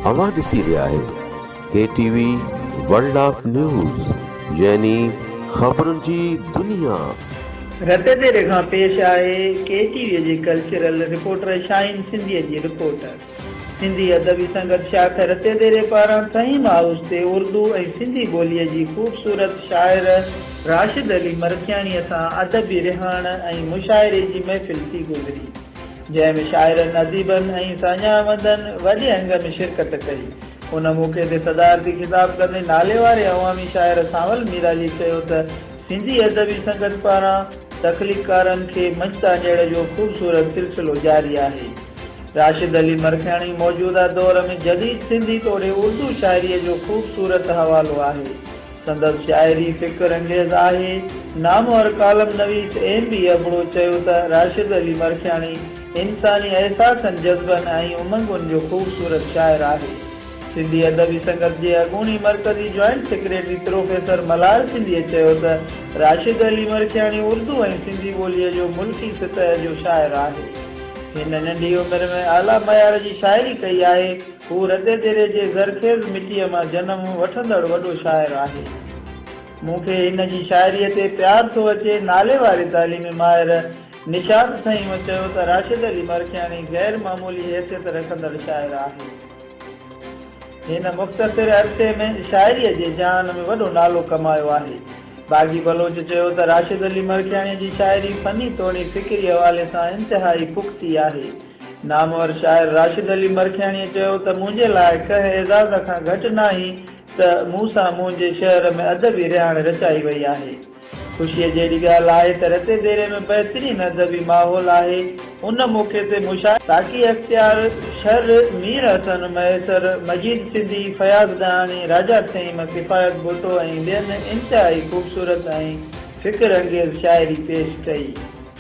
اوهان ڏسي رهيا آهيو K T V world of news يعني خبرن جي دنيا. رت ديري کان پيش آهي ڪي ٽي وي جي ڪلچرل رپورٽر شاهين سنڌيء جي رپورٽ. سنڌي ادبي سنگت شاخ رت ديري پاران فهيم هائوس تي اردو ۽ سنڌي ٻوليء جي خوبصورت شاعر راشد علي مرکياڻيء سان ادبي رهاڻ ۽ مشاعري جي محفل ٿي گذري. جنهن ۾ شاعرن، اديبن ۽ ساڃاهوندن وڏي انگ ۾ شرڪت ڪئي. ان موقعي تي صدارتي خطاب ڪندي ناليواري عوامي شاعر سانول ميراجي چيو ته سنڌي ادبي سنگت پاران تخليقڪارن کي منچ تان اجهيڙ جو خوبصورت سلسلو جاري آهي. راشد علي مرکياڻي موجوده دور ۾ جديد سنڌي توڙي اردو شاعريء جو خوبصورت حوالو آهي. سندس شاعري فڪر انگيز آهي. نامور ڪالم نويس ايم بي ابڙو چيو ته راشد علي مرکياڻي انساني احساسن، جذبن ۽ امنگن جو خوبصورت شاعر آهي. سنڌي ادبي سنگت جي اڳوڻي مرڪزي joint secretary professor Malhar Sindhi چيو ته راشد علي مرکياڻي اردو ۽ سنڌي ٻوليء جو ملڪي سطح جو شاعر آهي. هن ننڍي عمر ۾ اعليٰ معيار جي شاعري ڪئي آهي. هو ردديري جي زرخيز مٽيء مان جنم وٺندڙ وڏو شاعر آهي. مون کي هن جي شاعريء تي پيار ٿو اچي. ناليواري تعليمي ماهر نشاط سائينء چيو ته راشد علي مرکياڻي غير معمولي حيثيت رکندڙ شاعر آهي. هن مختصر عرصي ۾ شاعريء جي جهان ۾ وڏو نالو ڪمايو آهي. باغي بلوچ چيو ته راشد علي مرکياڻيء جي شاعري فني توڻي فڪري حوالي سان انتهائي پختي آهي. نامور شاعر راشد علي مرکياڻيء چيو ته منهنجي لاء ڪنهن اعزاز کان گهٽ ناهي ته مون سان منهنجي شعر ۾ ادبي رهاڻ رچائي وئي آهي. خوشيء جهڙي ڳالهه آهي ته رتي ديري ۾ بهترين ادبي ماحول آهي. ان موقعي تي مشاعري. ساقي اختيار شر، مير حسن مهيسر، مجيد سنڌي، فياض ڏاهاڻي، راجا ٿهيم، ڪفايت ڀٽو ۽ ٻين انتهائي خوبصورت ۽ فڪر انگيز شاعري پيش ڪئي.